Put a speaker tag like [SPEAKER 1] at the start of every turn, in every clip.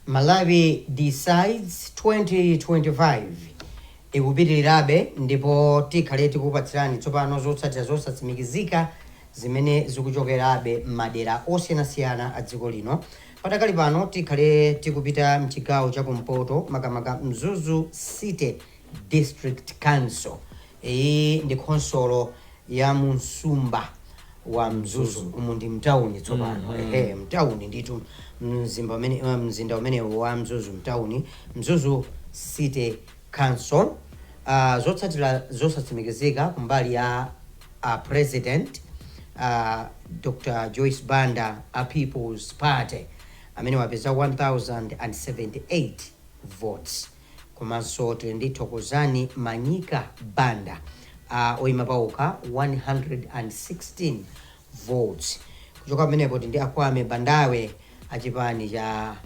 [SPEAKER 1] Malawi Decides 2025 ikupitirirabe ndipo tikhale tikukupatsirani tsopano zotsatira zosatsimikizika zimene zikuchokerabe m'madera osiyanasiyana a dziko lino. Padakali pano tikhale tikupita m'chigawo cha kumpoto makamaka Mzuzu City District Council Iyi ndi khonsolo ya mu msumba wa Mzuzu. Umu ndi mtauni tsopano. Ehe, mtauni ndithu. Mzinda umenewu wa Mzuzu, mtauni. Mzuzu City Council. Uh, zotsatira zosatsimikizika kumbali ya a president, a Dr Joyce Banda a People's Party, amenewa apeza 1078 votes. komanso tili ndi Thokozani Manyika Banda a oyima paokha 116 votes. Kuchoka pamenepo tili ndi Akwame Bandawe a chipani cha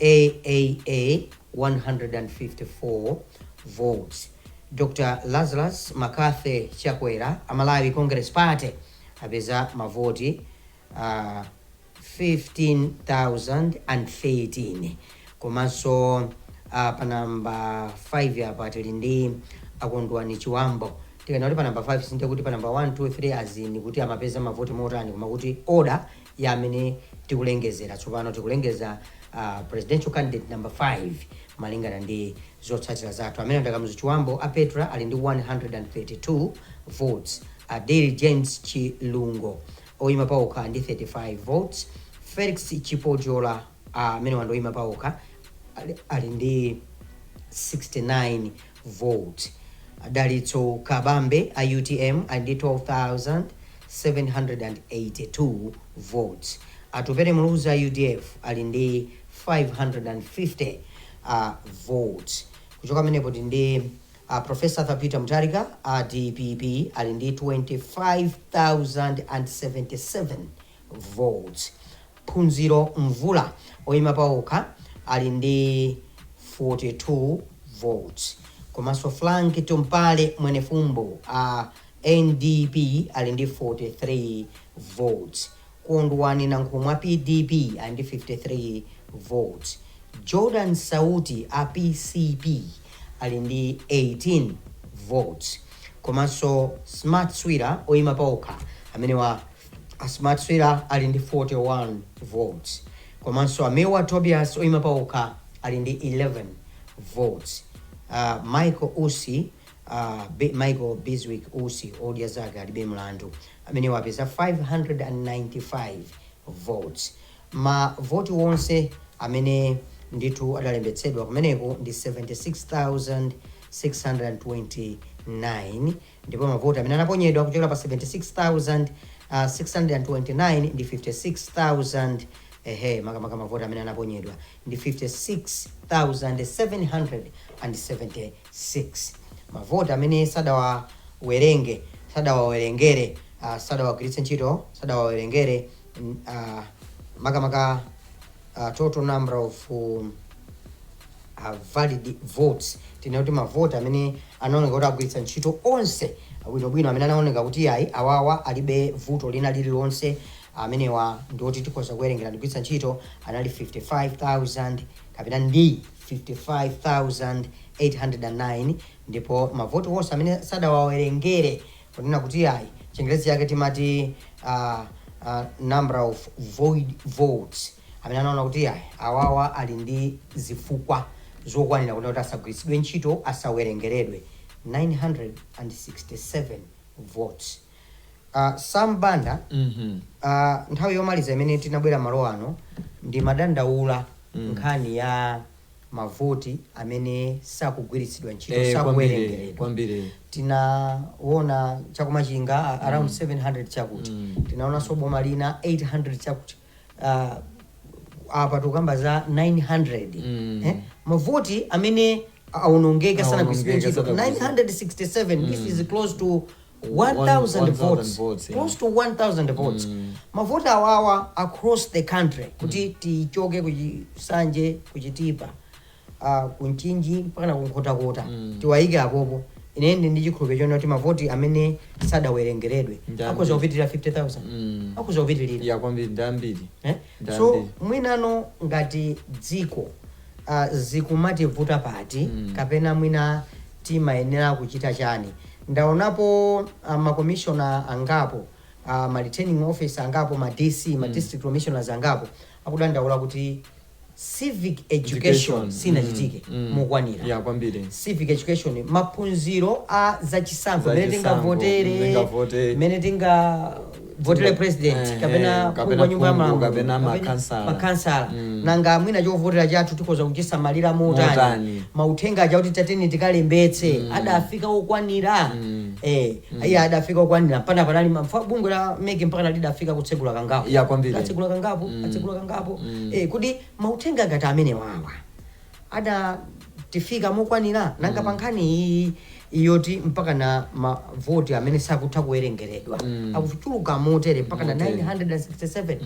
[SPEAKER 1] AAA 154 votes. Dr Lazarus McCarthy Chakwera a Malawi Congress Party apeza mavoti 15013 komanso pa number 5 apa tili ndi a Kondwani Chibambo tikanena kuti pa number 5 sindiye kuti pa number 1 2 3 as in kuti amapeza mavoti motani koma kuti order ya amene tikulengezera tsopano tikulengeza a presidential candidate number 5 malingana ndi zotsatira zathu amene ndi a Kamuzu Chibambo a Petra ali ndi 132 votes Adil James Chilungo Oyima paokha ndi 35 votes, Felix Chipojola amenewa ndi oyima paokha ali ndi 69 votes, Dalitso Kabambe a utm ali ndi 12,782 votes, Atupele Muluzi a udf ali ndi 550 votes, kuchoka pamenepo tili ndi. A Prof. Arthur Peter Mutharika a dpp ali ndi 25,077 votes, Phunziro Mvula oyima paokha ali ndi 42 votes komanso Frank Tumpale Mwenefumbo a NDP ali ndi 43 votes. Kondwani Nankhumwa PDP ali ndi 53 votes, Jordan Sauti a PCP ali ndi 18 votes komanso Smart Swira oyima paokha amenewa a Smart Swira ali ndi 41 votes komanso a Milward Tobias oyima paokha ali ndi 11 votes, Michael Usi A Michael Bizwick Usi odya zake alibe mlandu amenewa apeza 595 votes. Ma voti wonse amene ndithu adalembetsedwa kumeneko ndi 76,629 ndipo ma voti amene anaponyedwa kuchokera pa 76,629 ndi 56,000 ehe makamaka ma voti amene anaponyedwa ndi 56,77. 6 mavoti amene sadawawerenge, sadawawerengere, ah, sadawagwiritse ntchito, sadawawerengere, mm, ah, makamaka ah, total number of um, uh, valid votes tinene kuti mavoti amene anaoneka kuti agwiritsa ntchito onse bwinobwino amene anaoneka kuti ayi awawa alibe vuto lina lililonse amenewa ndioti tikhoza kuwerengera ndigwiritsa ntchito anali 55,000 kapena ndi 55,809 ndipo mavoti onse amene sadawawerengere kunena kuti ayi chingerezi chake timati uh, uh, number of void votes amene anaona kuti ayi awawa ali ndi zifukwa zokwanira kunena kuti asagwiritsidwe ntchito asawerengeredwe 967 votes A Sam Banda, a nthawi yomaliza imene tinabwera malo ano ndimadandaula nkhani ya mavoti amene sakugwiritsidwa ntchito, Eh, kwambiri, sakuwerengeredwa. kwambiri. Tinaona chakumachinga a- around 700 chakuti. Tinaonanso boma lina 800 chakuti. Ah, apa tukamba za 900 Mm. eh? mavoti amene aonongeka sana Aonongeka, kugwiritsidwa ntchito sanagwiritsidwa. 967 this is close to 1000 votes votes, yeah. close to 1000 votes mavoti awawa across the country kuti tichoke ku Nsanje kuchitipa uh, kumchinji mpakana kunkhotakota tiwayike apopo ine ndi ndi chikhulupiriro chonena kuti mavoti amene sadawerengeredwe Ndambiri. akhoza kupitirira 50000 Mm. akhoza kupitirira ya kwambiri
[SPEAKER 2] ndambiri
[SPEAKER 1] Eh? Ndambiri. so
[SPEAKER 2] mwinano
[SPEAKER 1] ngati
[SPEAKER 2] dziko
[SPEAKER 1] uh, zikumativuta pati kapena mwina Timayenera kuchita chani? Ndaonapo ma commissioner angapo, ma returning officer angapo, ma DC, ma district commissioners angapo akudandaula kuti civic education Education, sinachitike mm, mm. mokwanira. Yeah, kwambiri.
[SPEAKER 2] Civic
[SPEAKER 1] education, maphunziro a zachisankho, Za mmene chisankho, tingavotere, mmene tingavote. mmene tinga votere Timo- president eh, kapena eh, kapena wa nyumba ya phungu, malamulo kapena
[SPEAKER 2] makansala. makansala Mm. nanga
[SPEAKER 1] mwina chovotera chathu tikhoza kuchisamalira motani Motani. mauthenga aja kuti tatiyeni tikalembetse adafika okwanira Mm. eh iye adafika okwanira pana panali mafa- bungwe la MEC mpaka lidafika kutsegula kangapo Ya, kwambiri. atsegula kangapo
[SPEAKER 2] Mm. atsegula
[SPEAKER 1] kangapo Mm. eh kodi mauthenga ngati amenewawa adatifika mokwanira nanga pa nkhani iyi yoti mpaka na mavoti amene sakutha kuwerengeredwa akuchuluka motere mpaka na 967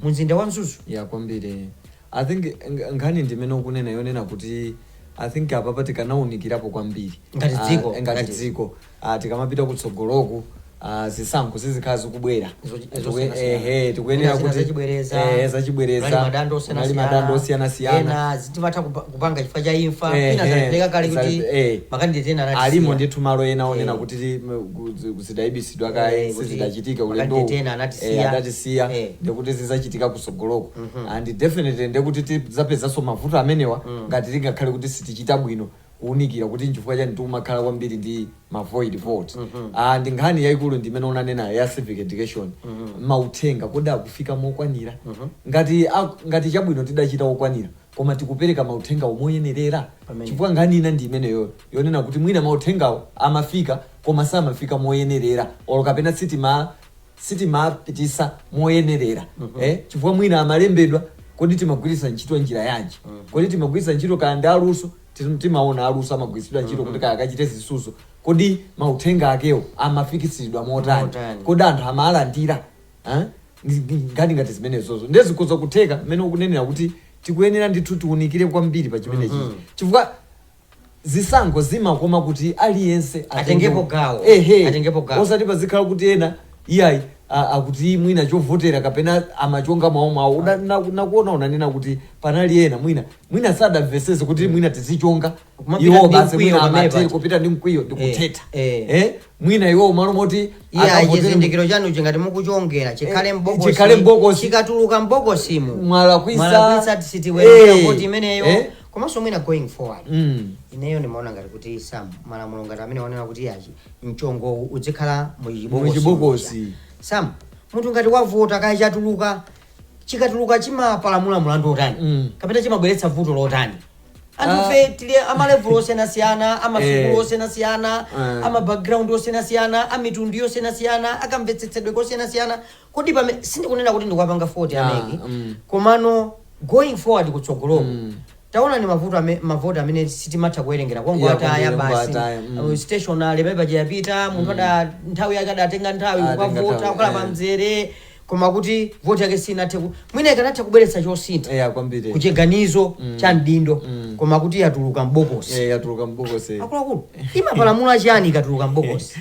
[SPEAKER 1] mu mzinda wa Mzuzu ya kwambiri
[SPEAKER 2] I think ng- nkhani ndimene ukunena yonena kuti I think apapa tikanaunikirapo kwambiri Ngati Ah, dziko, ngati ngati- dziko ah, tikamapita kutsogoloku ah, zisankho zizikhala zikubwera Zo- Tikue- zosiyanasiyana. ehe, tikuyenera Mwina zina kuti zachibwereza, eh, kunali zachibwereza madando kunali madando osiyanasiyana ena zitimatha kupa- kupanga
[SPEAKER 1] chifukwa cha imfa Eh, ina eh, zalepheleka kale za- kuti eh. makandideti ena anatisiya. alimo ndithu malo
[SPEAKER 2] ena onena Eh. kuti ti- m- ku- zi- zidayibisidwa Eh, kaye kuti sizidachitike makandideti ulendo ena anatisiya. adatisiya Eh. ndekuti zizachitika kusogoloko and definitely ndekuti tizapezanso mavuto amenewa ngati tingakhale kuti sitichita bwino kuunikira kuti nchifukwa chani tikumakhala kwambiri ndi ma void vote mm -hmm. Ah, ndi nkhani yaikulu ndi imene unanena ya civic education mm -hmm. mauthenga kodi akufika mokwanira mm -hmm. ngati, ak- ngati chabwino tidachita okwanira koma tikupereka mauthengawo moyenerera chifukwa nkhani ina ndi imeneyo yonena kuti mwina mauthengawo amafika koma samafika moyenerera olo kapena sitima sitimapitisa moyenerera eh, chifukwa mwina amalembedwa kodi timagwiritsa ntchito njira yanji kodi timagwiritsa ntchito kaya ndi aluso tim- timaona aluso amagwiritsidwa ntchito kuti kaya akachite zisuzo kodi mauthenga akewo amafikisidwa motani Motani. kodi anthu amalandira eh? Ndi- ndi- ngati ngati zimenezozo ndiye zikhoza kutheka mmene ukunenera kuti tikuyenera ndithu tiunikire kwambiri pa chimenechi chifukwa zisankho zimakoma kuti aliyense Atengepo
[SPEAKER 1] gawo. Ehe. Atengepo gawo.
[SPEAKER 2] osati pazikhala kuti ena iyayi a- akuti mwina chovotera kapena amachonga mwawo mwawo Una- na- nakuona unanena kuti panali ena mwina mwina sadamvesese kuti mwina tizichonga Kumapita iwo ndi basi mkwiyo mwina amatha kupita ndi mkwiyo ndi Eh, kuthetha eh. Eh, mwina iwo malo moti iye akavotere-
[SPEAKER 1] chizindikiro chanu chingati mukuchongera chikhale Eh, m'bokosi- chikhale m'bokosi. chikatuluka mbokosimu mwalakwisa mwalakwisa sitiwerenga Eh, voti imeneyo eh. komanso mwina going forward mm. ineyo ndimaona ngati kuti some malamulo ngati amene wanena kuti chimchongochi chidzikhala muchibokosi munthu ngati wavota kaya chatuluka chikatuluka chimapalamula mulandu otani mm. kapena chimabweretsa vuto lotani anthufe ah. tili amalevulo osiyanasiyana amasukulu eh. osiyanasiyana eh. amabackground osiyanasiyana amitundu yosiyanasiyana akamvetsetsedwe kosiyanasiyana Kodi pamene, sindikunena kuti ndikuwapanga fault a Yeah, MEC mm. komano going forward kutsogoloku Mm. taonani mavuto ame, mavoti amene sitimatha kuwerengera Yeah, kwangoataya kwambiri, basi kwangoataya, mm. uh, stationery paper yapita munthu ada nthawi yake adatenga nthawi Atenga kukavota nthawi, kukhala eh. pamzere koma kuti voti yake sinathe ku- mwina ikanatha kubweretsa chosintha Yeah, kwambiri. kuchiganizo cha mdindo Mm. koma kuti yatuluka mbokosi Yeah, yatuluka mbokosi. akuluakulu imapalamula chiyani ikatuluka mbokosi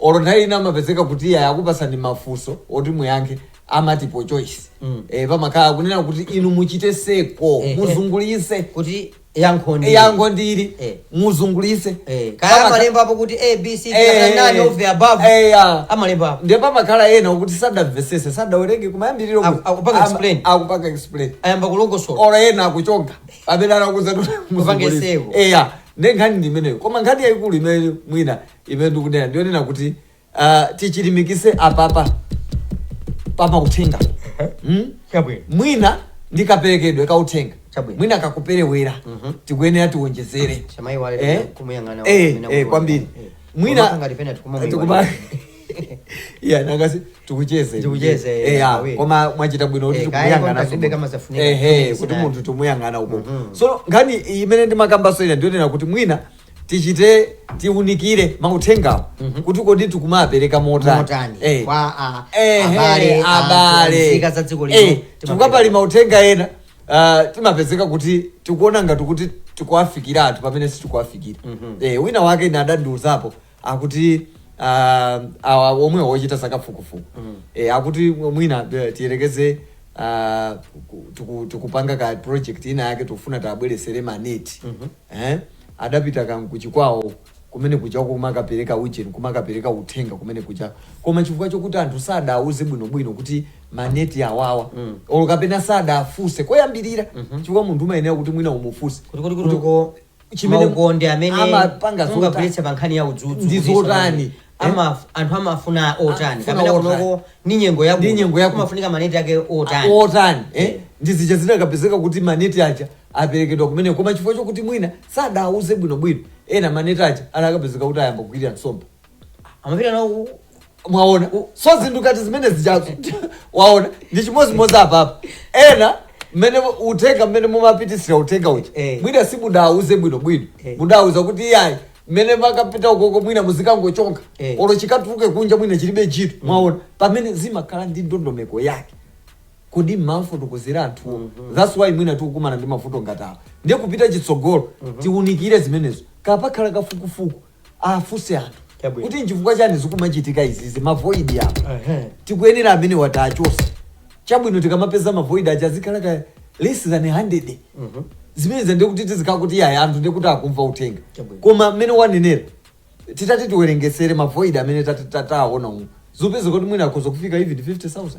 [SPEAKER 2] olo nthawi ina amapezeka kuti iye akupasani mafunso oti muyankhe amatipo choice Mm. eh, pamakhala kunena kuti inu muchite seko Eh, eh. muzungulise kuti
[SPEAKER 1] yankho ndi yankho ndili Eh.
[SPEAKER 2] muzungulise Eh, kaya Pamaka-
[SPEAKER 1] amalembapo kuti abc Eh, none of the above eh, yeah. amalembapo ndiye pamakhala ena
[SPEAKER 2] kuti sadamvesese sadawerenge kumayambiriro Aku- akupanga Ama- explain. akupanga explain ayamba kulongosola ora
[SPEAKER 1] ena akuchonga
[SPEAKER 2] amene anakuza Kupange seko.
[SPEAKER 1] eya ndenkhani
[SPEAKER 2] ndi imeneyo koma nkhani yayikulu imene mwina imene ndikunena ndiyonena kuti ah, tichilimikise apapa pamauthenga mm? chabwino mwina ndi kaperekedwe ka uthenga Chabwino. mwina kakuperewera tikuyenera tiwonjezere samayiwale Eh? kumuyang'ana Eh, wamene eh, akuona. kwambiri
[SPEAKER 1] Eh. mwina Komaka ngati
[SPEAKER 2] pena tikuma muyi tikuma- wale. Yeah, nangasi tikucheze Tikucheze, Eh, yeah, ah, we. koma mwachita bwino kuti Eh, kaya tikuyang'ana kontakti. beka mazafunika.
[SPEAKER 1] Eh, eh, Yes,
[SPEAKER 2] kuti na- munthu timuyang'ana uko so nkhani imene ndimakambaso ina ndiyonena kuti mwina tichite tiunikire mauthengawo kuti kodi tikumapereka motani Motani. Eh. Kwa, ah,
[SPEAKER 1] Eh, abale, eh, ah,
[SPEAKER 2] abale. nzika za dziko lino,
[SPEAKER 1] Eh, timapereka. chifukwa pali mauthenga
[SPEAKER 2] ena ah, timapezeka kuti tikuona ngati kuti tikuwafikira anthu pamene sitikuwafikira Eh, wina wake ine adandiuzapo akuti uh, awa omwe ochita zakafukufuku mm. e, akuti mwina eh, tiyerekeze uh, ku- tiku- tikupanga ka project ina yake tikufuna tabweresere maneti mm -hmm. eh? adapita ku Chikwawa kumene kuja kumakapereka ujeni kumakapereka uthenga kumene kuja koma chifukwa chokuti anthu sadauze bwinobwino kuti maneti awawa mm. olo kapena sadafunse kuyambirira mm -hmm. chifukwa munthu umayenera kuti mwina umufunse Kuti- kuti- kuti- kuti-
[SPEAKER 1] chimene ukonde amene amapanga zota- mungagwiritse pa nkhani ya udzudzu Ndi kuchititsa zotani?
[SPEAKER 2] kuti ama- anthu
[SPEAKER 1] amafuna otani Afuna kapena otani? kunoko ni nyengo ya Ndi nyengo ya kuno. kumafunika maneti ake otani otani eh? Eh. ndi
[SPEAKER 2] zija zidakapezeka kuti maneti aja aperekedwa kumene koma chifukwa chokuti mwina sadauze bwinobwino ena maneti aja anakapezeka kuti ayamba kugwirira nsomba amapita
[SPEAKER 1] nawo mwaona
[SPEAKER 2] u- so zinthu ngati zimene zijazo waona ndi chimodzimodzi apapa ena mmene mu- uthenga mmene mumapitisira uthenga uja Eh. mwina simudawuze bwino bwino Eh. mudawuza kuti iyayi mmene makapita ukoko mwina muzikangochonga Eh. olo chikatuluke kunja mwina chilibe ntchito mwaona pamene zimakhala ndi ndondomeko yake kodi mmafotokozera anthuwo thats why mwina tikukumana ndi mavuto ngati awa ndiye kupita chitsogolo tiunikire zimenezo kapakhala kafukufuku afunse anthu Chabwino. kuti nchifukwa chani zikumachitika izizi mavoidi apa Ehe. tikuyenera amene wati achose chabwino tikamapeza mavoidi aja azikhala ka less than 100 Mhm. zimene ndiye kuti tizikhala kuti iyayi anthu ndiye kuti akumva uthenga Chabwino. koma mmene wanenera titati tiwerengesere mavoidi amene tati- tataona umu zipezeka kuti mwina akhoza kufika even 50000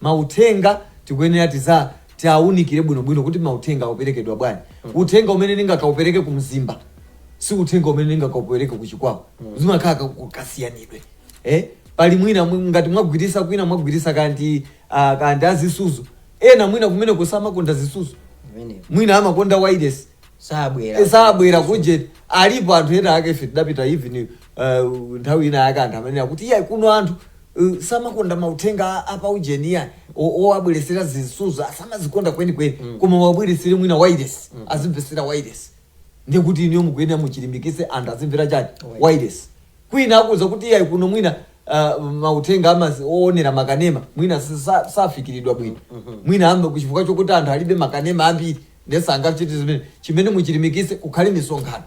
[SPEAKER 2] Mauthenga tikuyenera tiza tiaunikire bwino bwino kuti mauthenga auperekedwa bwanji. Uthenga umene ndingakaupereke ku Mzimba si uthenga umene ndingakaupereke ku Chikwawa. Zimakhala ka- ku- kasiyanidwe. Eh? Pali mwina mwi- ngati mwagwiritsa kwina mwagwiritsa kaya ndi ah, kaya ndi a zisudzo. Ena mwina kumene kusamakonda zisudzo. Imeneyo. Mwina amakonda wireless. sabwera sabwera kujeni alipo anthu ena ake ife tidapita even uh, nthawi ina yake anthu amene akuti iyayi kuno anthu uh, samakonda mauthenga a- apa ujeni iyayi o- owabweretsera zisudzo asamazikonda kwenikweni mm. koma wabweretsere mwina wireless mm. azimvetsera wireless ndiye kuti inuyo mukuyenera muchilimbikitse anthu azimvera chani wireless kwina akuuza kuti iyayi kuno mwina uh, mauthenga amazi oonera makanema mwina sa- safikiridwa bwino mwina mwambakuti chifukwa chokuti anthu alibe makanema ambiri ndiye sangachite zimene chimene muchilimbikitse kukhale misonkhano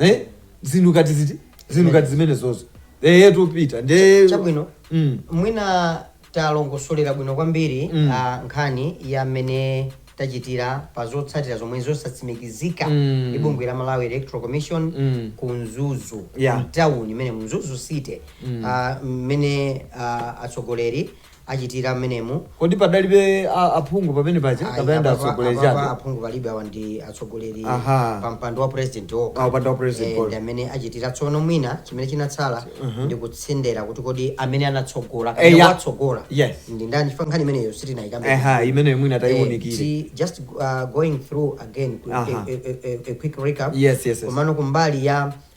[SPEAKER 2] eh zinthu ngati izi zinthu ngati zimenezozo eh tupita ndiye chabwino mm.
[SPEAKER 1] mwina talongosolera bwino kwambiri Mm. ah, nkhani ya mmene tachitira pa zotsatira zomwe zosatsimikizika Mm. ndi bungwe la malawi electoral commission Mm. ku mzuzu Yeah. mtawuni imeneyi mzuzu city ah, mmene ah, atsogoleri achitira mmenemu kodi
[SPEAKER 2] padalibe a- aphungu pamene paja Ayi, kapena ndi apapa- atsogoleri apapa chabe aphungu palibe awa
[SPEAKER 1] ndi atsogoleri Aha. pa mpando wa president okha. Ah, mpando wa president Eh, okha. ndi amene achitira tsono mwina chimene chinatsala ndi kutsindira kuti kodi amene anatsogola Eh, kapena ya. watsogola Yes. ndi ndani chifukwa nkhani imeneyo sitinayikambe eha imeneyo mwina tayiwunikire
[SPEAKER 2] ti- just uh,
[SPEAKER 1] going through again ku- Aha. a, a, a, a quick recap Yes, yes, yes. komano kumbali
[SPEAKER 2] ya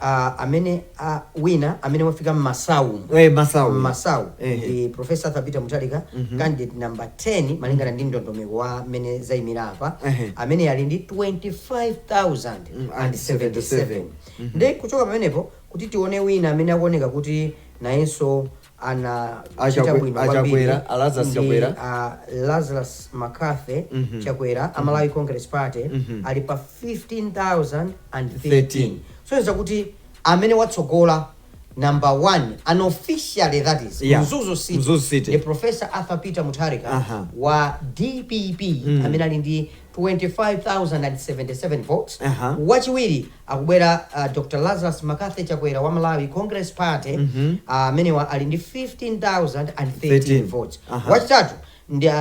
[SPEAKER 1] a amene winner amene wafika Masau. Eh, Masau. Masau Ehe. ndi professor Arthur Peter Mutharika candidate number 10 malingana ndi ndondomeko wa mmene zayimira apa Ehe. amene ali ndi 25077 ndi kuchoka pamenepo kuti tione wina amene akuoneka kuti nayenso anachita Chakwe- bwino a kwambiri
[SPEAKER 2] Chakwera, a Lazarus ndi Chakwera.
[SPEAKER 1] a Lazarus McCarthy Mhm. Chakwera a Malawi Congress Party Mhm. ali pa 15,013 13. kusonyeza kuti amene watsogola number one unofficially that is Yeah. Mzuzu City, Mzuzu City. the Professor Arthur Peter Mutharika Aha. wa DPP Mhm. amene ali ndi 25,077 votes Aha. wachiwiri akubwera uh, dr lazarus mccarthy chakwera wa malawi congress party Mhm. amenewa ali ndi 15,013 13. votes Aha. wachitatu ndi uh,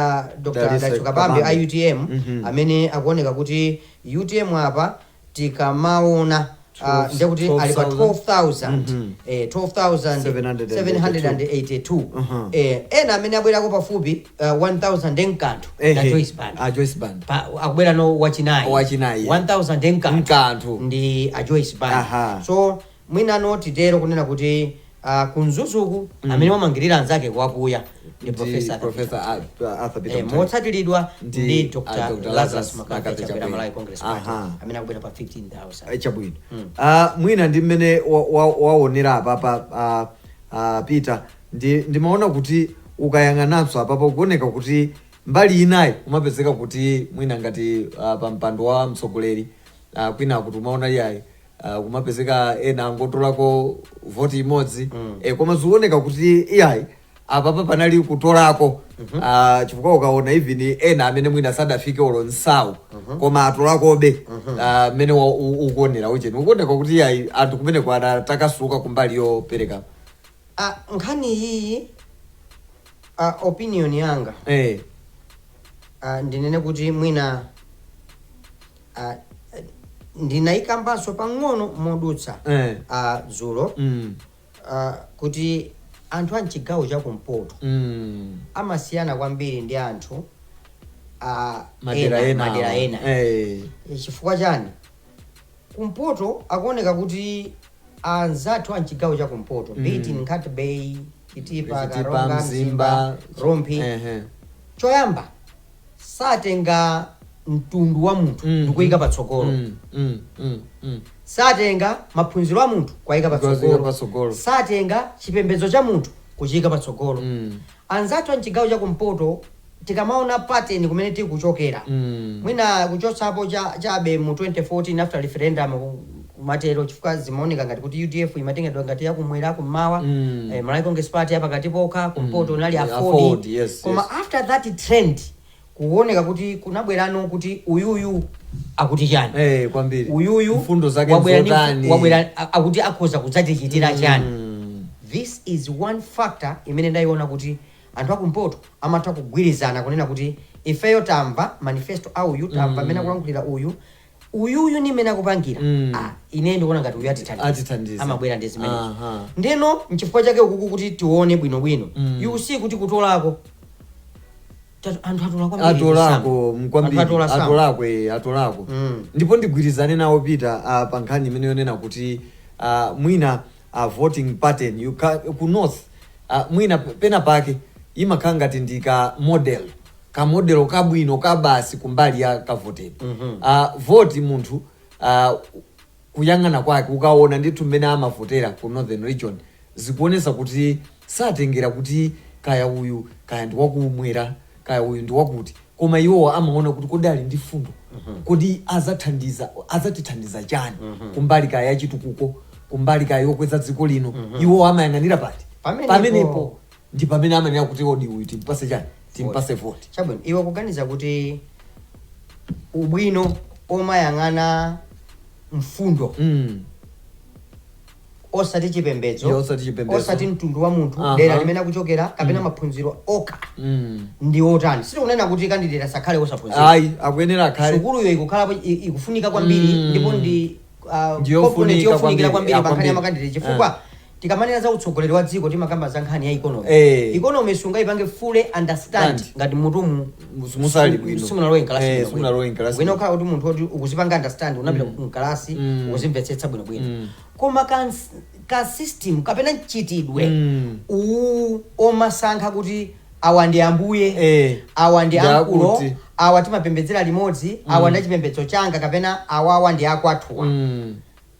[SPEAKER 1] dr Dalitso kabambe a Kabambe. utm Mhm. amene akuoneka kuti utm apa tikamaona ah, ndiye kuti ali pa 12,000 eh, 12,782 Mhm. eh, ena amene abwerako pafupi ah, 1,000 ndi mkanthu na Ehe, Joyce Banda. a Joyce Banda. Pa- akubwerano wachinayi Wachinayi. 1,000 ndi mkanthu Mkanthu. ndi a Joyce Banda. Aha. so Mwina ndiye titero kunena kuti kuMzuzu ku amene wamangirira anzake kuwakwiya ndi Professor
[SPEAKER 2] Arthur Peter Mutharika. E, motsatiridwa ndi
[SPEAKER 1] Dr. Lazarus McCarthy Chakwera Malawi Congress Party amene akubwera pa 15,000. Chabwino. Mm.
[SPEAKER 2] Uh, mwina ndi mmene waonera wa, wa apapa uh, uh, Peter ndimaona kuti ukayang'ananso apapa kuoneka kuti mbali inayi umapezeka kuti mwina ngati uh, pa mpando wa mtsogoleri uh, kwina kuti umaona iyayi ah, kumapezeka ena angotolako voti imodzi eh, koma zikuoneka kuti iyayi apapa panali kutolako ah, chifukwa ukaona even ena amene mwina sadafike olo thousand koma atolakobe ah, mmene wa- u- ukuonera ucheni ukuoneka kuti iyayi anthu kumeneko anatakasuka kumbali yopereka
[SPEAKER 1] Ah, nkhani iyi ah, opinion yanga eh, ah, ndinene kuti mwina ah, eh, ndinaikambanso pang'ono modutsa Eh. ah, dzulo Mm. ah, kuti anthu a mchigawo cha kumpoto Mm. amasiyana kwambiri ndi anthu ah, madera ena, ena madera awa. ena. Eh. Eh, chifukwa chani kumpoto akuoneka kuti anzathu a mchigawo cha kumpoto mm. be it Nkhata Bay Chitipa Chitipa, Karonga Mzimba, Mzimba Rumphi Ehe. choyamba satenga mtundu wa munthu Mm. ndikuuyika patsogolo Mm, mm, mm, mm. satenga maphunziro a munthu kuwayika Kuwayika patsogolo patsogolo. satenga chipembedzo cha munthu kuchiyika patsogolo Mm. anzathu a mchigawo cha kumpoto tikamaona pattern kumene tikuchokera Mm. mwina kuchotsapo cha- chabe mu 1994 after referendum kumatero chifukwa zimaoneka ngati kuti UDF imatengedwa ngati yakumwera kummawa mm. eh, Malawi Congress Party yapakati pomwe kumpoto mm. kunali AFORD yes, koma yes. after that trend kuoneka kuti kunabwerano kuti uyuyu akuti chani eh, eh, kwambiri
[SPEAKER 2] uyuyu mfundo zake wabwera
[SPEAKER 1] akuti akhoza kudzatichitira mm. chani mm. this is one factor imene ndayiona kuti anthu akumpoto amatha kugwirizana kunena kuti ifeyo tamva manifesto a uyu tamva mmene mm. akulankhulira uyu uyu uyu ndi mmene akupangira mm. ah, ine ndikuona ngati uyu atithandiza amabwera ndi zimenezo uh-huh. ndeno nchifukwa chake ukuku kuti tione bwino bwino mm. you see kuti kutolako anthu
[SPEAKER 2] atolako kwambiri atolako eh, atolako mm. ndipo ndigwirizane nawo Peter uh, ah, pa nkhani imene yonena kuti uh, mwina uh, voting pattern ya ka, ku north uh, mwina pena pake imakhala ngati ndi kamodel ka model kabwino kabasi kumbali ya kavotedwe mm -hmm. uh, voti, munthu uh, kuyang'ana kwake ukaona ndithu mmene amavotera ku northern region zikuonesa kuti satengera kuti kaya uyu kaya ndi wakumwera kaya uyu ndi wakuti koma iwowa amaona kuti kodi ali ndi fundo mhm. kodi azathandiza, azatithandiza chani mhm. kumbali kaya yachitukuko kumbali kaya yokweza dziko lino mhm. iwowa amayang'anira pati pamenepo ndi pamene amanena kuti kodi uyu timpase chani timpase voti chabwino iwe
[SPEAKER 1] ukuganiza kuti ubwino omayang'ana mfundo mm. osati chipembedzo Ndi osati chipembedzo. osati mtundu wa munthu Aha. dera limene akuchokera kapena maphunziro okha Mm. ndi otani sitikunena kuti kandidate asakhale osaphunzira ayi akuyenera akhale
[SPEAKER 2] sukuluyo ikukhalapo i-
[SPEAKER 1] ikufunika kwambiri Mm. ndipo ndi ah, Ndi yofunika component yofunikira kwambiri, kwambiri ah, pa nkhani ya kwambiri. makandideti chifukwa tikamanena za utsogoleri wa dziko timakamba za nkhani ya ikonomi Eh. ikonomi sungayipange fully understand Stand. ngati munthu Mus- musali bwino.
[SPEAKER 2] simunalowe Eh, nkalasi
[SPEAKER 1] simunalowe nkalasi. bwino ukhala kuti munthu oti ukuzipanga understand unapita nkalasi Mm. ukuzimvetsetsa bwino bwino Mm. koma ka, ka system kapena mchitidwe Mm. uwu omasankha kuti awa ndi ambuye Eh. awa ndi Ndi ankulo akuti. awa timapembedzera limodzi awa ndi achipembedzo changa kapena awawa ndi akwathuwa Mm.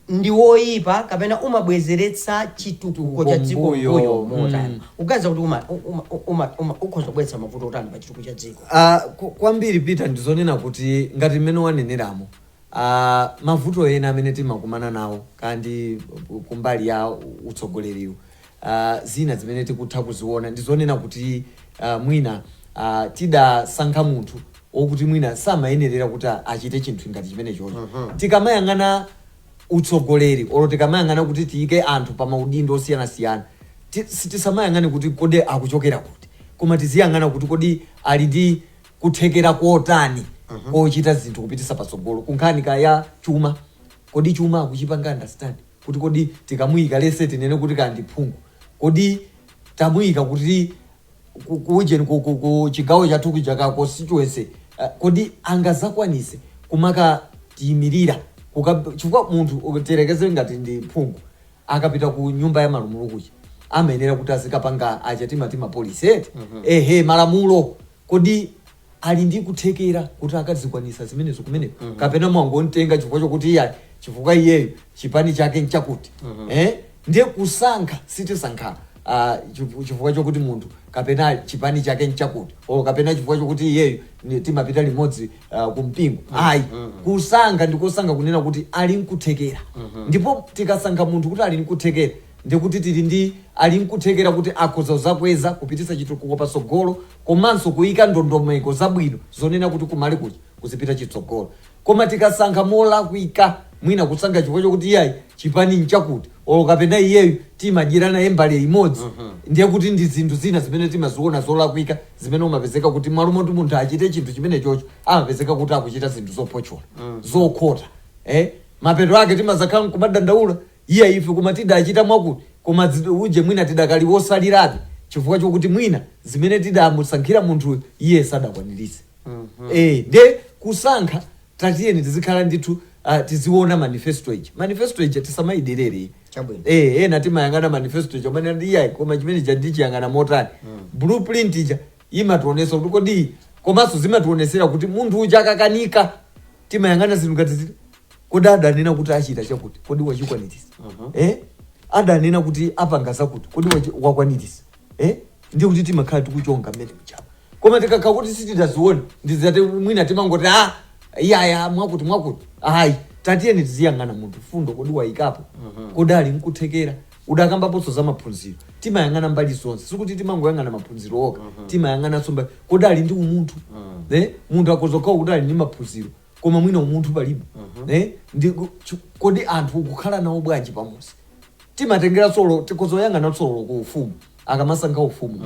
[SPEAKER 1] ndi woyipa kapena umabwezeretsa chitukuko cha dziko Kumbuyo. mbuyo motani Mm. uganiza kuti uma- uma- uma- uma- ukhoza kubweretsa mavuto otani pa chitukuko cha
[SPEAKER 2] dziko
[SPEAKER 1] Ah,
[SPEAKER 2] ku-
[SPEAKER 1] kwambiri
[SPEAKER 2] Peter
[SPEAKER 1] ndizonena
[SPEAKER 2] kuti ngati
[SPEAKER 1] mmene
[SPEAKER 2] waneneramo Mavuto ena amene timakumana nawo kaya ndi kumbali ya utsogoleriwu, zina zimene tikutha kuziona ndi zonena kuti mwina tidasankha munthu wokuti mwina samayenerera kuti achite chinthu ngati chimenechocho. Tikamayang'ana utsogoleri olo tikamayang'ana kuti tiyike anthu pa maudindo osiyanasiyana, tisamayang'ane kuti kodi akuchokera kuti, koma tiziyang'ana kuti kodi ali ndi. kuthekera kotani kochita zinthu kupitisa patsogolo kunkhani kaya ya chuma kodi chuma akuchipanga understand kuti kodi tikamuyika let's say tinene kuti kaya ndi phungu kodi tamuyika kuti ku- kuujeni ku- ku- ku chigawo chathu kuja ku constituency eh, kodi angazakwanise kumakatiyimirira Kuka- chifukwa munthu tiyerekeze ngati ndi phungu akapita ku nyumba ya malamulo kuja amayenera kuti azikapanga aja timati mapolisi eti ehe malamulo kodi ali ndi kuthekera kuti akazikwanisa zimenezo kumeneko kapena mwangomtenga chifukwa chokuti iyayi chifukwa iyeyo chipani chake nchakuti eh? ndiye kusankha sitisankha ah, chifu- chifukwa chokuti munthu kapena chipani chake nchakuti o kapena chifukwa chokuti iyeyo ni- timapita limodzi uh, ku mpingo ayi kusankha ndi kusankha kunena kuti ali nkuthekera ndipo tikasankha munthu kuti ali nkuthekera ndikuti tili ndi ali nkuthekera kuti akhoza kuzakweza kupititsa chitukuko patsogolo komanso kuyika ndondomeko zabwino zonena kuti kumalo kuja kuzipita chitsogolo Koma tikasankha molakwika, mwina kusankha chifukwa chokuti iyayi chipani nchakuti olo kapena iyeyu timadyera naye mbale imodzi, ndiye kuti ndi zinthu zina zimene timaziona zolakwika zimene umapezeka kuti mmalo moti munthu achite chinthu chimenechocho amapezeka kuti akuchita zinthu zophotchola, zokhota. Eh? Mapeto ake timazakhala nkumadandaula, iyayi ife koma tidachita mwakuti, koma zi, uje mwina tidakali otsalirabe chifukwa chokuti mwina zimene tidamusankhira munthuyo iye sadakwaniritse. eeh nde kusankha tatiyeni tizikhala ndithu ah, tiziona manifesto ija manifesto ija tisamaiderere Chabwino. eh ena timayang'ana manifesto ija umene ndi iyayi koma chimene ija ndichiyang'ana motani blueprint ija imationesa kuti kodi komanso zimationesera kuti munthu uja akakanika timayang'ana zinthu ngati ziti kodi adanena kuti achita chakuti kodi wachikwanirisa eh adanena kuti apanga zakuti kodi wachi- wakwanirisa eh ndiye kuti timakhala tikuchonga mmene mchapa koma tikakhala kuti sitidazione ndi zoti mwina timangoti a iyayi mwakuti mwakuti ayi tatiyeni tiziyang'ana munthu fundo kodi wayikapo kodi ali nkuthekera udakambaponso za maphunziro timayang'ana mbali zonse sikuti timangoyang'ana maphunziro okha timayang'ananso mbali kodi ali ndi umunthu eh? munthu akhozokhala kuti ali ndi maphunziro koma mwina umunthu palibe eh? ndi ku- chu- kodi anthu ukukhala nawo bwanji pamusi timatengeranso olo tikhozoyang'ananso olo ku ufumu akamasankha ufumu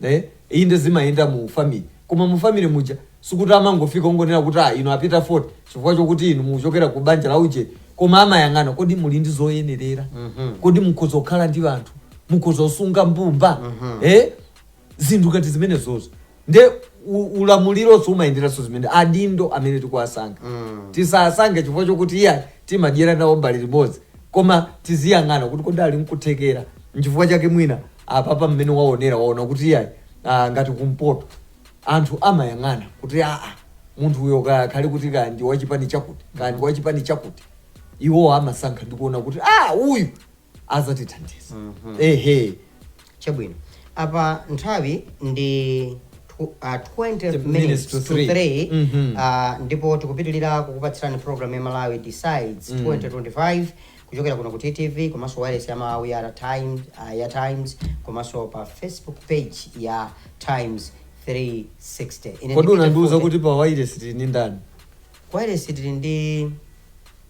[SPEAKER 2] eh, inde zimayenda mu family koma mu family muja sikuti amangofika ongonena kuti ah, inu apita fort chifukwa chokuti inu muchokera ku banja la uje koma amayang'ana kodi muli ndi zoyenerera kodi mukhoza kukhala ndi anthu mukhoza kusunga mbumba eh, zinthu ngati zimenezozo nde ulamulironso umayenderanso zimene adindo amene tikuwasankha mm. tisasankhe chifukwa chokuti iyayi timadyera nawo mbale imodzi koma tiziyang'ana kuti kodi ali nkuthekera nchifukwa chake mwina apapa mmene waonera waona kuti iyayi ah, ngati kumpoto anthu amayang'ana kuti aa munthu uyo akhale kuti kaya ndi wachipani chakuti kaya ndi wachipani chakuti iwo amasankha ndikuona kuti ah uyu azatithandiza
[SPEAKER 1] ehe chabwino apa nthawi ndi tw- ah, 20 minutes to 3 Mhm. Ah, ndipo tikupitirira kukupatsirani program ya malawi decides 2025 kuchokera kuno ku ttv komanso wailesi ya malawi ya times, ah, ya times komanso pa facebook page ya times 360 kodi unandiuza
[SPEAKER 2] kuti pa wailesi tili ndi ndani
[SPEAKER 1] wailesi tili ndi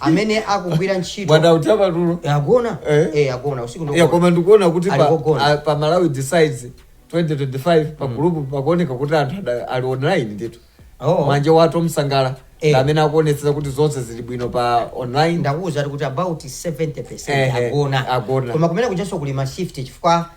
[SPEAKER 1] amene akugwira ntchito bwana utaba tulo
[SPEAKER 2] Eh, agona Eh. eh
[SPEAKER 1] agona usiku ndo- ya koma ndikuona kuti Ali pa,
[SPEAKER 2] kogona. a- pa malawi decides 2025 pa gulupu pakuoneka kuti anthu ali online ndithu Oh. manja watu msangala Eh. ndi amene akuonetsetsa kuti zonse zili bwino pa online ndi akuwuza kuti about
[SPEAKER 1] 70 Eh, eh, agona agona. koma kumene kuchanso kuli ma shift chifukwa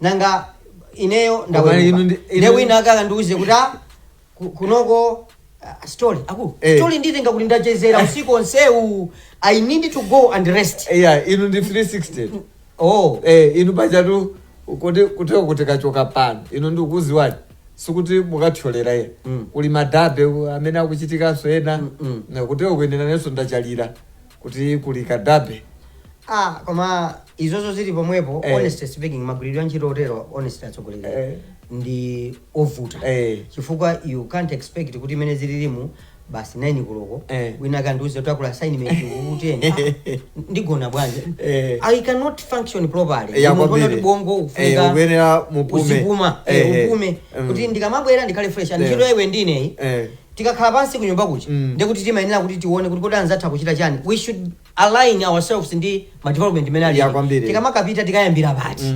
[SPEAKER 1] nanga ineyo Koma ndaweruka inu ndi- inu- nde wina ake akandiuze kuti "Ah, ku- kunoko ah, story aku Eh. story ndikatenge kuti ndachezera usiku onsewu i need to go and rest iya inu ndi 360
[SPEAKER 2] oh eh inu pachatu kuti kuteko mukachoka pano ine ndikudziwani sikuti mukathyolera ye Mm. kuli madabe amene akuchitikanso ena Mm, mm. kuteko kuyenera nenso ndachalira kuti kuli kadabe ah
[SPEAKER 1] koma izozo zili pomwepo Eh. honestly speaking magwiridwe a ntchito otero honestly atsogoleri Eh. ndi ovuta Eh. chifukwa you can't expect kuti mmene zililimu basi 9 koloko Eh. wina akandiuze kuti uli ku assignment kwakuteni ah, ndigona bwanji Eh. i cannot function properly Ya Munthu kwambiri. kuti bongo Eh,
[SPEAKER 2] ufunika
[SPEAKER 1] uyenera
[SPEAKER 2] upume. uzipuma Eh, eh, eh. upume
[SPEAKER 1] Mm. kuti ndikamabwera ndikhale fresh and Eh. ntchito yomwe ndilinayi Eh. Tikakhala pansi kunyumba kuja ndiye kuti timayenera kuti tione kuti kodi anzathu akuchita chani, we should align ourselves ndi ma development amene Yeah, alili. kwambiri. Tikamapita tikayambira pati,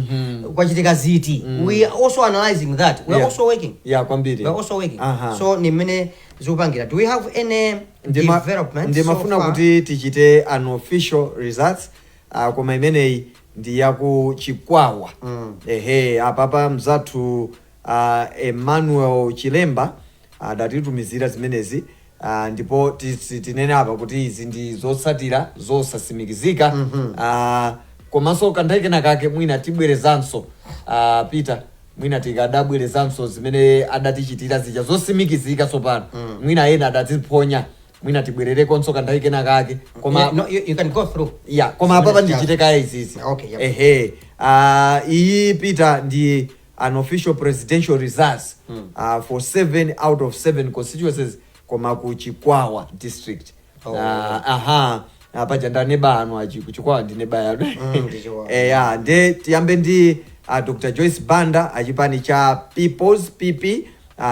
[SPEAKER 1] kwachitika ziti, we are also analyzing that, we are Yeah. also working. Yeah, kwambiri. We are also working. Aha. So ni mmene tikupangira. Do we have any Ndima- development ndimafuna so far?
[SPEAKER 2] kuti tichite unofficial results uh, koma imeneyi ndi yaku chikwawa Mm. ehe apapa mzathu Emmanuel Chilemba adatitumizira zimenezi ndipo tinene apa kuti izi ndi zotsatira zosatsimikizika komanso kanthawi kena kake mwina tibwerezanso a Peter mwina tikadabwerezanso zimene adatichitira zija zotsimikizika tsopano mwina ena adaziphonya mwina tibwererekonso kanthawi kena kake koma No, you, you can go through.
[SPEAKER 1] ya koma apapa Zimene ndichite
[SPEAKER 2] kaya izizi Okay, yep. ehe Ah, iyi Peter ndi unofficial presidential results uh, for 7 out of 7 constituencies koma ku chikwawa district Oh. uh, aha uh, paja ndi aneba anu aku ku chikwawa ndi neba wanu Mm, ndi Chikwawa. eh, ya nde tiyambe ndi uh, dr joyce banda achipani cha peoples pp uh,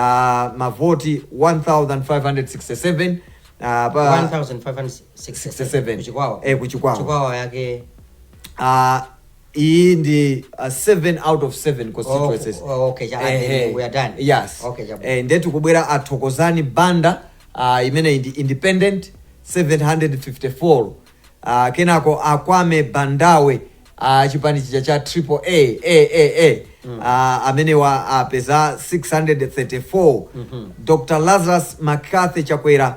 [SPEAKER 2] mavoti 1567 uh, pa 1567
[SPEAKER 1] kuchikwawa Eh, kuchikwawa. chikwawa
[SPEAKER 2] yake uh,
[SPEAKER 1] iyi
[SPEAKER 2] ndi uh, 7 out of 7 constituencies Oh, okay, cha- Eh, eh, eh, we are
[SPEAKER 1] done. yes Okay, cha- Eh,
[SPEAKER 2] nde tikubwera athokozani banda uh, imene ndi independent 754 uh, kenako akwame bandawe uh, chipani chija cha triple a a a a mm. uh, amenewa apeza 634 mm -hmm. dr lazarus mccarthy chakwera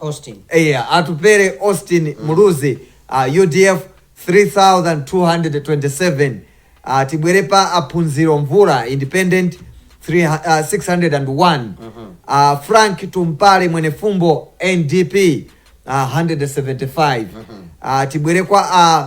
[SPEAKER 2] Austin. Eya,
[SPEAKER 1] atupere
[SPEAKER 2] Austin Muluzi uh, UDF 3227 uh, tibwere pa aphunziro mvula independent 3, uh, 601 uh, Frank Tumpale Mwenefumbo NDP uh, 175 uh, tibwere kwa uh,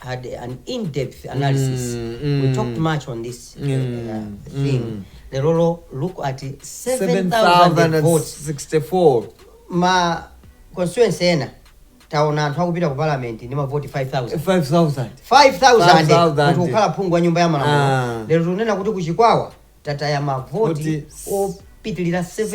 [SPEAKER 1] had an in-depth analysis. Mm, mm. We talked much on this uh, mm, uh, thing. Mm. Lerolo, look at 7,000 votes. 64.
[SPEAKER 2] Ma
[SPEAKER 1] constituency ena taona anthu akupita ku parliament ndi mavoti 5000 5000 5000 kuti ukhale phungu wa nyumba ya malamulo ah. lero tikunena kuti kuchikwawa tataya mavoti opitilira 7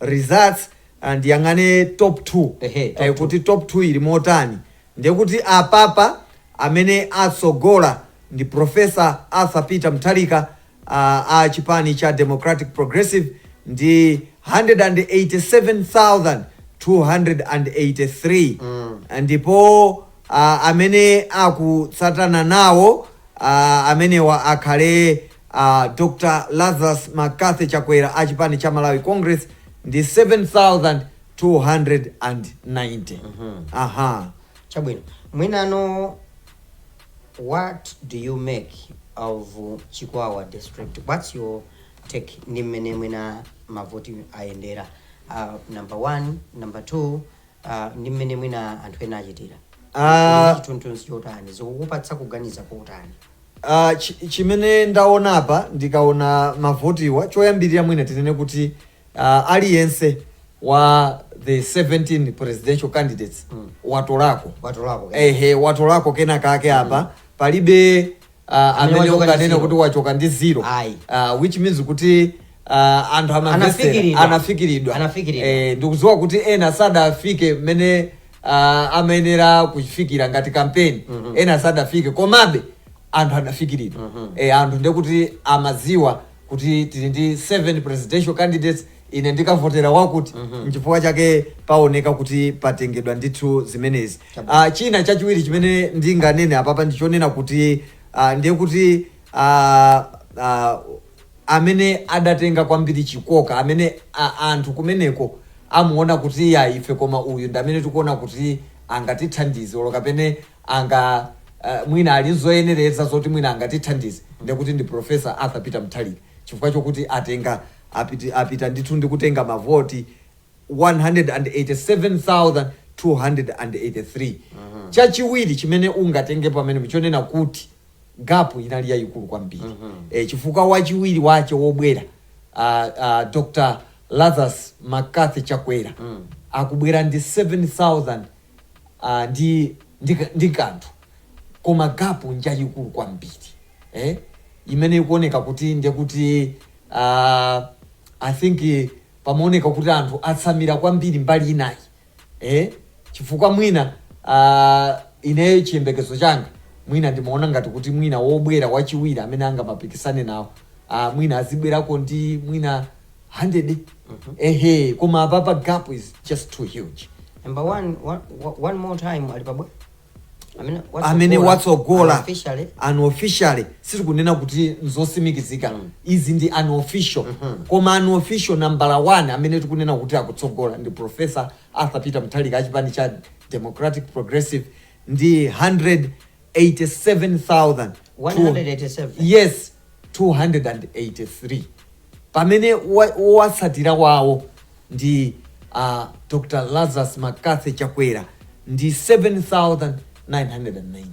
[SPEAKER 2] results and tiyang'ane top 2 Ehe, top eh, two. kuti top 2 ili motani ndiye kuti apapa amene atsogola ndi Professor Arthur Peter Mutharika uh, a chipani cha Democratic Progressive ndi 187283 mm. ndipo uh, amene akutsatana nawo uh, amenewa akhale a Dr Lazarus McCarthy Chakwera a chipani cha Malawi Congress ndi 7,290. Aha.
[SPEAKER 1] Chabwino. Mwinano, what do you make of Chikwawa district? What's your take ndi mmene mwina mavoti ayendera? Uh, number one, number two, ah, ndi mmene mwina anthu ena achitira Ah. Ndi chithunzi chotani zikukupatsa kuganiza kotani Ah, chi-
[SPEAKER 2] chimene ndaona apa ndikaona mavotiwa choyambirira mwina tinene kuti ah, aliyense wa the 17 presidential candidates Mm. watolako watolako ehe watolako kena kake apa palibe uh, amene wachoka ndi unganene zero. kuti wachoka ndi zero Ayi. uh, which means kuti uh, anthu amamvetsera Anafikiridwa. anafikiridwa Anafikiridwa. eh, ndikudziwa kuti ena sadafike mmene uh, amayenera kufikira ngati kampeni ena sadafike komabe anthu anafikiridwa eh, anthu ndekuti amadziwa kuti tili ndi seventeen presidential candidates ine ndikavotera wakuti nchifukwa chake paoneka kuti patengedwa ndithu zimenezi Chabwino. Ah, china chachiwiri chimene ndinganene apapa ndichonena kuti ah, ndiye kuti ah, ah, amene adatenga kwambiri chikoka amene ah, anthu kumeneko amuona kuti ya ife koma uyu ndi amene tikuona kuti angatithandize olo kapena anga ah, mwina ali nzoyenereza zoti mwina angatithandize ndekuti ndi Professor Arthur Peter Mutharika chifukwa chokuti atenga apit, apita ndithu ndi kutenga mavoti 187,283. Chachiwiri chimene ungatenge pamenepo chonena kuti gap inali yayikulu kwambiri eh, chifukwa wachiwiri wache wobwera ah, ah, Dr. Lazarus McCarthy Chakwera akubwera ndi 7,000 ndi ndi ndi kanthu koma gap njayikulu kwambiri eh imene ikuoneka kuti ndekuti uh, i think pamaoneka kuti anthu atsamira kwambiri mbali inayo eh chifukwa mwina uh, ineyo chiyembekezo changa mwina ndimaona ngati kuti mwina wobwera wachiwiri amene angamapikisane nawo uh, mwina azibwerako ndi mwina 100 ehe koma apapa gap is just too huge Number
[SPEAKER 1] one, one, one more time alipabwe. Amene
[SPEAKER 2] amene watsogola unofficially sitikunena kuti nzotsimikizika izi ndi unofficial koma unofficial nambala 1 amene tikunena kuti akutsogola ndi professor arthur peter mutharika achipani cha democratic progressive ndi 187000 187. yes 283 Pamene wowatsatira wawo ndi a Dr Lazarus McCarthy Chakwera ndi 7,990.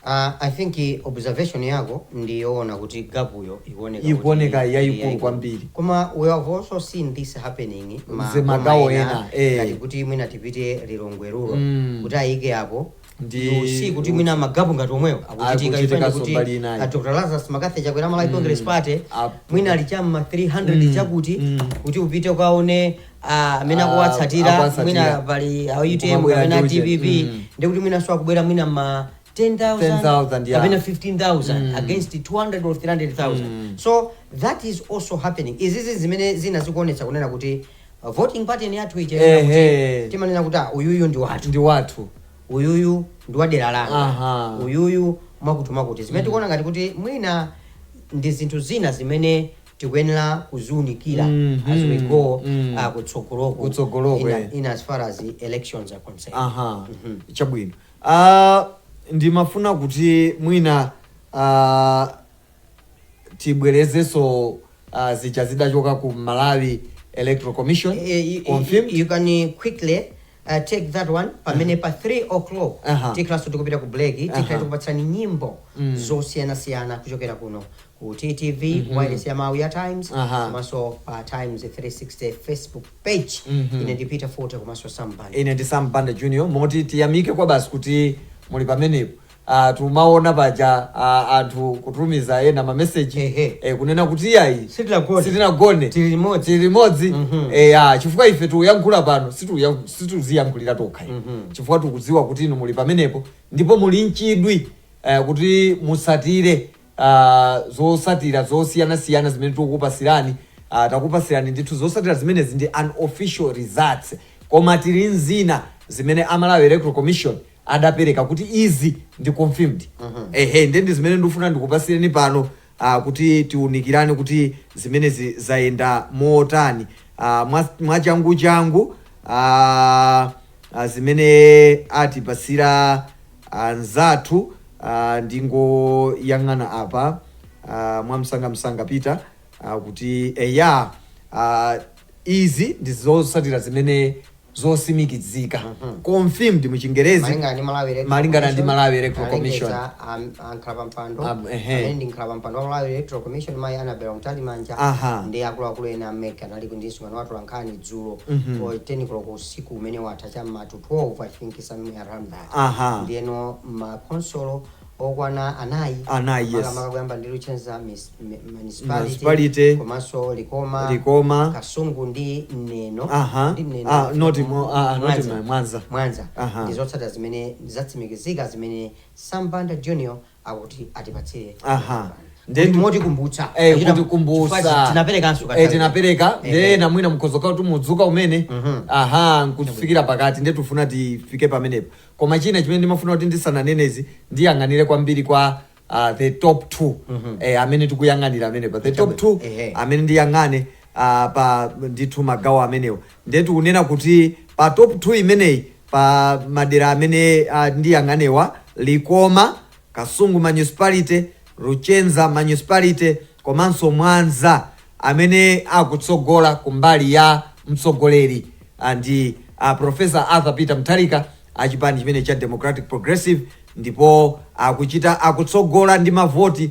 [SPEAKER 2] Aaa
[SPEAKER 1] I think observation yako ndi yoona kuti gap yo ikuoneka kuti Ikuoneka
[SPEAKER 2] ndi yayikulu yaikulu. kwambiri. Koma we have
[SPEAKER 1] also seen this happening ma boma magawo ena ena,
[SPEAKER 2] eh. ngati kuti mwina
[SPEAKER 1] tipite Lilongwe rural Mm. kuti ayike yao ndiye kuti mwina ma gap ngati omwewo akuchitika Akuchitikaso ifane kuti mbali inayi. a dr lazarus mccarthy chakwera malawi congress party Apo. mwina ali cham'ma 300 chakuti Mm. kuti upite ukaone ah, amene Ah, akuwatsatira akuwatsatira. mwina pali a utm Kumabwera kapena ndi uje. dpp Mm. ndi kuti mwinanso akubwera mwina ma 10,000 10,000, yeah. kapena 15,000 Mm. against 200 or 300,000 Mm. so that is also happening izizi zimene zina zikuonetsa kunena kuti A voting pattern yathu ija Ehe. ina kuti timanena kuti ah, uyuyu ndi wathu ndi wathu uyuyu ndi wadera langa Aha. uyuyu mwakuti mwakuti zimene tikuona ngati kuti mwina ndi zinthu zina zimene tikuyenera kuziunikira Mhm. as we go Mm. ah, kutsogoloku Kutsogoloku, in, eh. in as far as the elections are concerned aha chabwino
[SPEAKER 2] Ah, ndimafuna kuti mwina ah, tibwerezenso zija zidachoka ku Malawi Electoral Commission confirmed. You can
[SPEAKER 1] quickly uh, take that one pamene pa 3 o'clock uh -huh. tikhalanso tikupita ku break tikhala tikupatsani nyimbo mm. zosiyanasiyana kuchokera kuno ku ttv mm -hmm. wireless ya mawu ya times komanso pa times 360 facebook page mm -hmm. ine ndi peter fote komanso sam banda ine ndi sam banda junior
[SPEAKER 2] moti tiyamike kwabasi kuti muli pamenepo Ah, tumaona paja ah, anthu kutumiza ena mameseji Ehe. eh, kunena kuti iyayi Sitinagone. sitinagone Tili limodzi. tili limodzi Mhm. eh, ya chifukwa ife tiuyankhula pano situuya- situziyankhulira tokha ife. Mhm. chifukwa tikudziwa kuti inu muli pamenepo ndipo muli n'chidwi eh, kuti musatire ah, zosatira zosiyana siyana zimene tikukupasirani ah, takupasirani ndithu zosatira zimenezi ndi unofficial results koma tili nzina zimene a malawi electoral commission adapereka kuti izi ndi confirmed ehe nde ndi zimene ndikufuna ndikupasireni pano ah, kuti tiunikirane kuti zimenezi zayenda motani ah, mwa- mwachanguchangu ah, ah, zimene atipasira anzathu ndingoyang'ana apa mwamsangamsanga peter kuti eya izi ndi zotsatira zimene zotsimikizika confirmed mu chingerezi malingana ndi malawi
[SPEAKER 1] electoral commission ndi akuluakulu ena amene anali ndi msonkhano wa atolankhani dzulo 10 koloko usiku umene watha cha mma to 12 i think somewhere around that Aha. ndiyeno ma khonsolo okwana anayi Anayi, yes. makamaka kuyamba ndi luchenza mis- mi- Municipality. municipality komanso likoma Likoma. kasungu ndi neno Aha. ndi Neno. Ah, not
[SPEAKER 2] Mo- ah, ah, not Mwanza. Ma- Mwanza. mwanza Aha. ndi zotsatira
[SPEAKER 1] zimene zatsimikizika zimene sambanda junior akuti atipatse aha Kuti motikumbutsa Eh, Achita- kutikumbutsa. chifukwa tinaperekanso
[SPEAKER 2] Eh, katatu. tinapereka Eh, nde eh. ena mwina nkhutheka kuti mudzuka kumene Mhm. aha nkufikira pakati nde tifuna tifike pamenepo koma china chimene ndimafuna kuti ndisananene izi ndiyang'anire kwambiri kwa ah, the top two Mhm. eh, amene tikuyang'anira amenepa the top two Eh, eh. amene ndiyang'ane ah, pa ndithu magawo amenewo Ndiye tikunena kuti pa top 2 imeneyi pa madera amene uh, ndiyang'anewa Likoma, Kasungu Municipality, Luchenza Municipality komanso Mwanza amene akutsogola kumbali ya mtsogoleri uh, ndi uh, Professor Arthur Peter Mutharika achipani chimene cha Democratic Progressive ndipo akuchita akutsogola ndi mavoti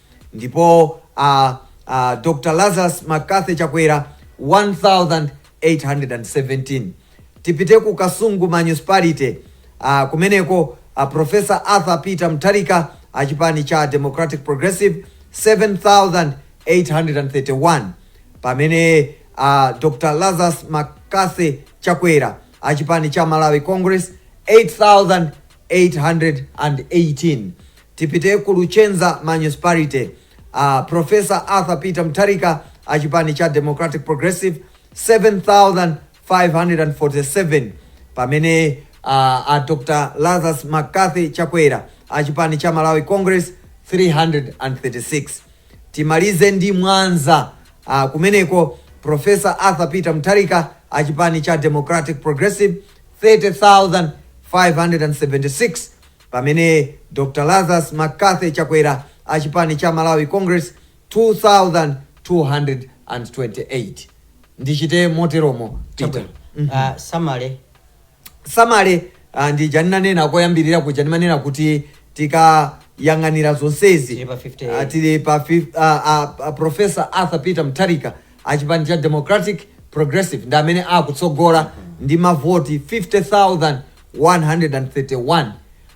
[SPEAKER 2] ndipo a a Dr Lazarus McCarthy Chakwera 1817 tipite ku Kasungu municipality a kumeneko a Professor Arthur Peter Mutharika a chipani cha Democratic Progressive 7831 pamene a Dr Lazarus McCarthy Chakwera a chipani cha Malawi Congress 8818 Tipite ku Luchenza Municipality. A Prof. Arthur Peter Mutharika a chipani cha Democratic Progressive 7,547 pamene a, a Dr. Lazarus McCarthy Chakwera a chipani cha Malawi Congress 336. Timalize ndi Mwanza a, kumeneko Professor Arthur Peter Mutharika a chipani cha Democratic Progressive 30,576 Pamene Dr Lazarus McCarthy Chakwera a chipani cha Malawi Congress 2228. Ndichite moteromo Peter. Chabwino. Ah, samale. samale ah, ndija ndinanena koyambirira kuja ndimanena kuti tikayang'anira zonsezi Tili pa 58. ah, tili pa fif- ah, ah, ah, professor arthur peter mutharika achipani cha democratic progressive ndi amene akutsogola ndi mavoti 131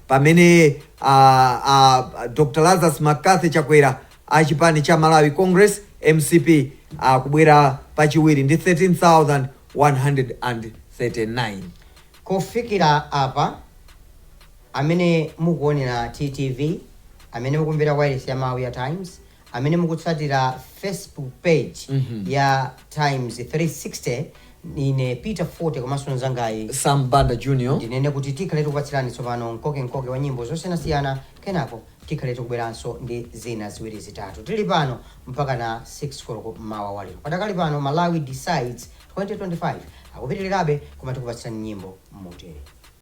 [SPEAKER 2] pamene a, a, Dr. Lazarus McCarthy Chakwera a chipani cha Malawi Congress MCP akubwera pachiwiri ndi 13,139. Kufikira
[SPEAKER 1] apa amene mukuonera TTV, amene mukumvera wailesi ya mawu ya Times Amene mukutsatira Facebook page ya Times 360 ine Peter Fote komanso mnzangayi Sam Banda Junior.
[SPEAKER 2] ndinene kuti tikhale
[SPEAKER 1] tikupatsirani tsopano mkoke mkoke wa nyimbo zosiyanasiyana kenako tikhale tikubweranso ndi zina ziwiri zitatu tili pano mpaka na 6 koloko mmawa wa lero padakali pano malawi decides 2025 akupitirirabe koma tikupatsirani nyimbo motere